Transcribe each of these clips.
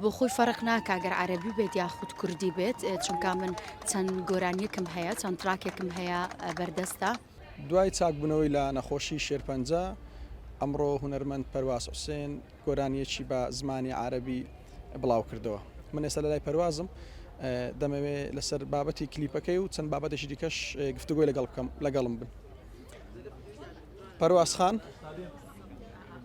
بۆخۆی فەرق ناکا گەر عەرەبی بێت یاخود کوردی بێت چونکا من چەند گۆرانیەکم هەیە چەند تراکێکم هەیە بەردەستە. دوای چاکبوونەوەی لە نەخۆشی شێرپەنجە، ئەمڕۆ هونەرمەند پەرواز حوسێن گۆرانییەکی بە زمانی عارەبی بڵاوکردەوە. من ئێستا لەلای پەروازم، دەمەوێ لەسەر بابەتی کلیپەکەی و چەند بابەتێکی دیکەش گفتوگۆی لەگەڵ بکەم، لەگەڵم بن. پەرواز خان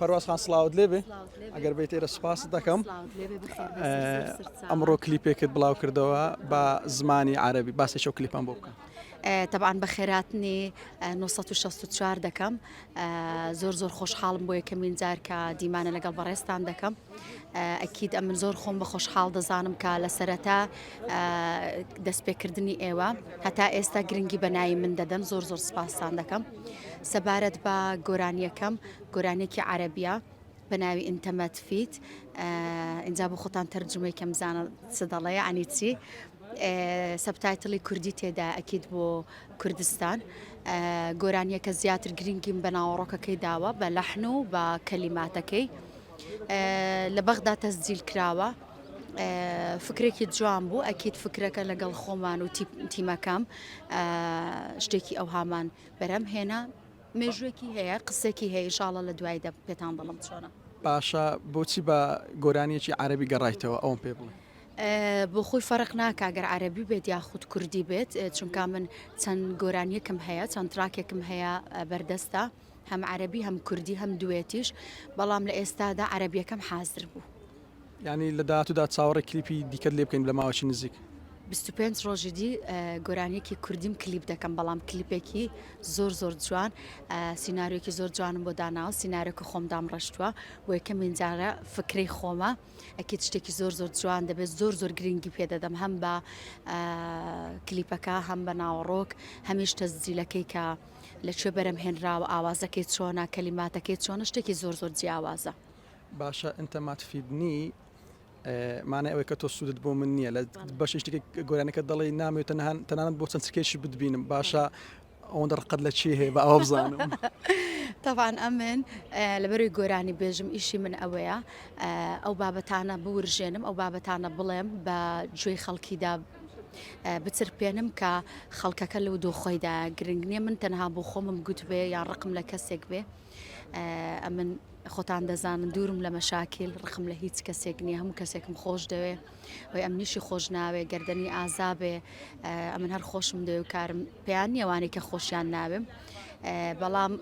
پەرواز خان سلااوت لێ بێ ئەگەر بیت ئێرە سوپاس دەکەم ئەمڕۆ کلیپێکت بڵاو کردەوە بە زمانی عربی باسی شو کلیپم بۆ بکەم تەبان بە خێراتنی 1964 دەکەم زۆر زۆر خۆشحاڵم بۆ یەکەمین جار کە دیمانە لەگەڵ بەڕێستان دەکەم ئەکییت ئەمن زۆر خۆم بە خۆشحاڵ دەزانم کە لە سەرەتا دەستپێکردنی ئێوە هەتا ئێستا گرنگی بەناایی من دەدەن زۆر زۆر سپاسان دەکەم. سەبارەت بە گۆرانیەکەم گۆرانیەکی عەرەبیە بە ناوی ئینتەمەت فیت ئینجا بۆ خۆتان تەرجمەی کەم زانە چ دەڵەیە ئەنی چی سەبتایتڵی کوردی تێدا ئەکیت بۆ کوردستان گۆرانیەکە زیاتر گرنگیم بە ناوەڕۆکەکەی داوە بە لەحن و بە کەلیماتەکەی لە بەغدا تەسجیل کراوە فکرێکی جوان بوو ئەکید فکرەکە لەگەڵ خۆمان و تیمەکەم شتێکی ئەوهامان بەرەم هێنا مێژوێکی هەیە قسێکی هەیە شاڵە لە دوای دە پێتان دڵم چۆنە باشە بۆچی بە گۆرانیەکی عربی گەڕایتەوە ئەوم پێ بڵێ بۆ خۆی فەرق ناکگەر عربی بێت یاخود کوردی بێت چونکە من چەند گۆرانیەکم هەیە چەند تراکێکم هەیە بەردەستە هەم عربی هەم کوردی هەم دوێتیش بەڵام لە ئێستادا عربیەکەم حازر بوو. یانی لە داهاتوودا چاوەڕێی کلیپی دیکەت لێ بکەین لە ماوەکی نزیک. بیست و پێنج ڕۆژی دی گۆرانیەکی کوردیم کلیپ دەکەم بەڵام کلیپێکی زۆر زۆر جوان سینناریۆکی زۆر جوانم بۆ داناوە سیننارەکە خۆم دامڕشتووە بۆ یەکەمین جارە فکرەی خۆمە ئەکیت شتێکی زۆر زۆر جوان دەبێت زۆر زۆر گرنگی پێدەدەم هەم بە کلیپەکە هەم بە ناوەڕۆک هەمیش تەزجیلەکەی کە لە کوێ بەرەم هێنراوە ئاوازەکەی چۆنە کەلیماتەکەی چۆنە شتێکی زۆر زۆر جیاوازە. باشە انت ما تفیدنی مانای ئەوەی کە تۆ سوودت بۆ من نییە لە بەشی شتێک گۆرانەکە دەڵی نامێت تەنان تەنانەت بۆ چەند سکێشی بتبینم باشە ئەوەندە ڕقت لە چی هەیە بە ئەوە بزانم تاوان ئەمن لەبەروی گۆرانی بێژم ئیشی من ئەوەیە ئەو بابەتانە بورژێنم ئەو بابەتانە بڵێم بە جوێی خەڵکیدا بچرپێنم کە خەڵکەکە لەو دۆخۆیدا گرنگ نییە من تەنها بۆ خۆمم گوتبێ یان ڕقم لە کەسێک بێ ئەمن خۆتان دەزانن دوورم لە مەشاکیل ڕقم لە هیچ کەسێک نییە هەموو کەسێکم خۆش دەوێ وی ئەم نیشی خۆش ناوێ گردنی ئازابێ ئەمن هەر خۆشم دەوێ و کارم پێیان نیەوانەی کە خۆشیان ناوێم بەڵام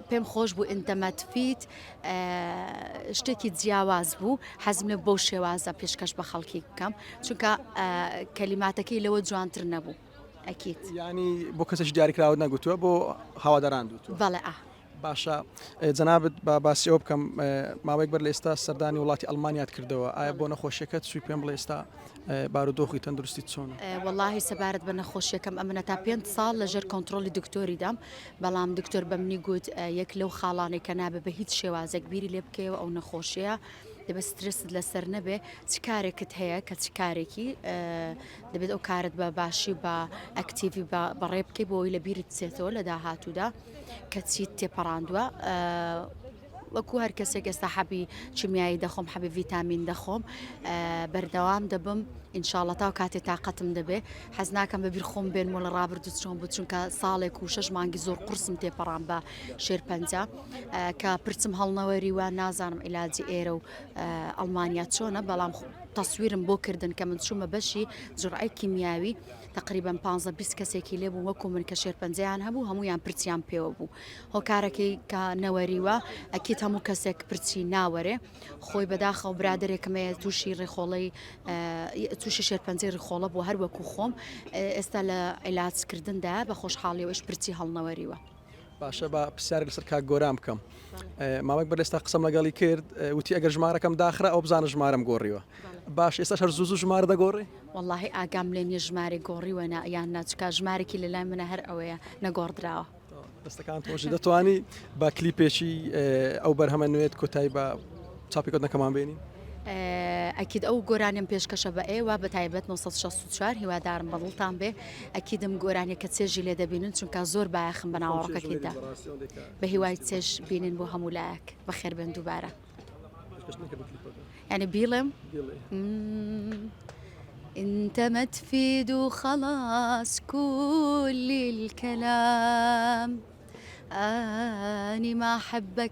پێم خۆش بوو ئینتەمەتفیت شتێکی جیاواز بوو حەزم لە بۆ شێوازە پێشکەش بە خەڵکی بکەم چونکە کەلیماتەکەی لەوە جوانتر نەبوو. ئەکید. یانی بۆ کەسێکی دیاریکراوت نەگوتووە بۆ هەواداران دوتوە؟ بەڵێ ئا. باشە جەنابت با باسی ئەوە بکەم ماوەیەک بەر لە ئێستا سەردانی وڵاتی ئەڵمانیات کردەوە ئایا بۆ نەخۆشیەکەت سوی پێم بڵێ ئێستا بارودۆخی تەندروستی چۆن وەڵی سەبارەت بە نەخۆشیەکەم ئەمنە تا پێ ساڵ لەژێر کۆنتترۆلی دکتۆری دام بەڵام دکتۆر بە منی گوت یەک لەو خاڵانێک کە نابێ بە هیچ شێوازێک بیری لێ بکەوە ئەو نەخۆشیە دەبە سترست لەسەر نەبێ چ کارێکت هەیە کە چ کارێکی دەبێت ئەو کارت بە باشی و بە ئەکتیڤی بەڕێ بکەی بۆی لە بیرت بچێتەوە لە داهاتوودا کە چیت تێپەڕاندووە وەکو هەر کەسێک ئێستا حەبی چمیایی دەخۆم حەبی ڤیتامین دەخۆم بەردەوام دەبم ئینشاالله تا و کاتێ تااقەتم دەبێ حەز ناکەم بە بیرخۆم بێن مۆ لە ڕابردوو چۆن بوو چونکە ساڵێک و شش مانگی زۆر قرسم تێپەڕان بە شێرپەنجە کە پرچم هەڵنەوەری وە نازانم عیلاجی ئێرە و ئەڵمانیا چۆنە بەڵام تەسویرم بۆ کردن کە من چوومە بەشی جڕعی کیمیاوی تقریبان 15 بیست کەسێکی لێ بوو وەکو من کە شێرپەنجەیان هەبوو هەمویان پرچیان پێوە بوو هۆکارەکەی کە نەوەریوە ئەکیت هەموو کەسێک پرچی ناوەرێ خۆی بەداخەو برادێکمەیە تووشی ڕێخۆڵی تووشی شێرپەنجەی ڕخۆڵە بۆ هەر وەکو خۆم ئێستا لە عیلاجکردندا بە خۆشحاڵیەوەش پرچی هەڵنەوەریوە باشە با پرسیارێک لەسەر کاک گۆران بکەم ماوەێک بەر لێستا قسەم لەگەڵی کرد وتی ئەگەر ژمارەکەم داخرا ئەو بزانە ژمارەم گۆڕیوە باش ئێستا هەر زوو ژمارە دەگۆڕی واللهی ئاگام لێ نیە ژمارە گۆڕیوە نا یان ناچکا ژمارێکی لە لای منە هەر ئەوەیە نەگۆڕدراوە دەستەکان تۆژی دەتوانی با کلیپێکی ئەو بەرهەمە نوێت کۆتای بە چاپیکردنەکەمان بینین. ئەکید ئەو گۆرانیم پێشکەشە بە ئێوە بە تایبەت 964 هیوادارم بەدڵتان بێ ئەکیدم گۆرانیە کە چێژی لێ دەبینن چونکە زۆر بایەخم بە ناوەڕەکەکەیدا بە هیوای چێژ بینین بۆ هەموو لایەک بەخێر بێن دووبارە ینی بیڵێم انت ما تفيد خلاص كل الكلام اني ما احبك